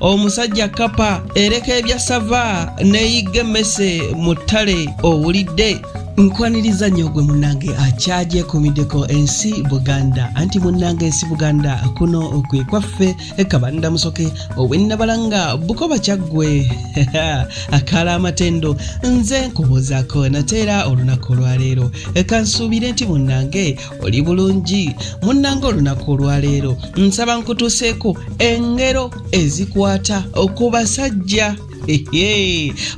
omusajja kapa ereka ebya sava neyigga emmese mu ttale owulidde nkwaniriza nnyo gwe munnange akyagyekumideko ensi buganda anti munnange ensi buganda kuno kwe kwaffe kabanda musoke owennabalanga bukoba kyaggwe akala amatendo nze nkubuuzaako nateera olunaku olwaleero kansuubire nti munnange oli bulungi munnanga olunaku olwaleero nsaba nkutuseeko engero ezikwata ku basajja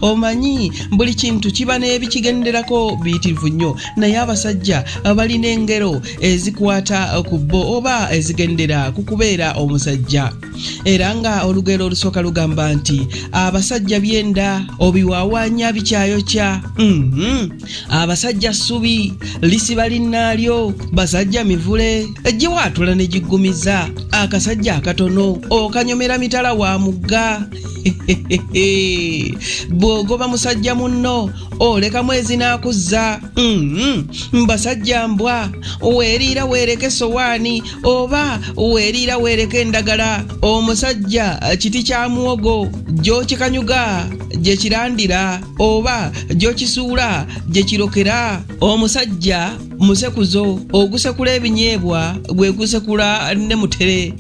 omanyi buli kintu kiba n'ebikigenderako biyitirivu nnyo naye abasajja balina engero ezikwata ku bo oba ezigendera ku kubeera omusajja era nga olugero olusooka lugamba nti abasajja byenda obiwaawaanya bikyayokya mm-hmm. abasajja ssubi lisiba linnaalyo basajja mivule giwaatula ne giggumiza akasajja akatono okanyomera mitala wa mugga bw'ogoba musajja munno oleka mwezi n'akuzza mm-hmm. mbasajja mbwa weeriira weereka essowaani oba weeriira weereka endagala omusajja kiti kya muwogo gy'okikanyuga gye kirandira oba gyokisuula gye kirokera omusajja musekuzo ogusekula ebinyeebwa gwe gusekula ne mutere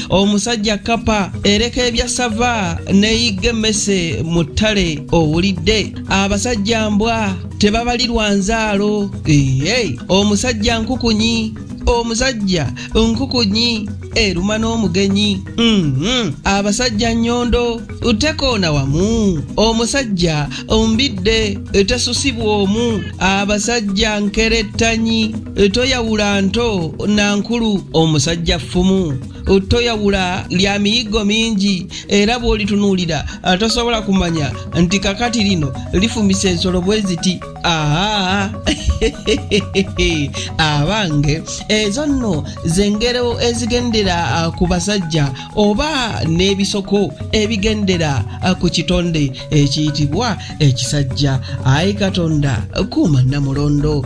omusajja kapa ereka ebya sava neyigga emmese mu ttale owulidde abasajja mbwa tebabalirwa nzaalo omusajja nkukunyi omusajja nkukunyi eruma n'omugenyi mm-hmm. abasajja nyondo tekoona wamu omusajja ombidde tesusibwa omu abasajja nkerettanyi toyawula nto na nkulu omusajja ffumu toyawula lya miyiggo mingi era bw'olitunuulira tosobola kumanya nti kakati lino lifumisa ensolo bwe ziti Aa, abange ezo nno zengero ezigendera ku basajja oba n'ebisoko ebigendera ku kitonde ekiyitibwa ekisajja ayi katonda kuuma namulondo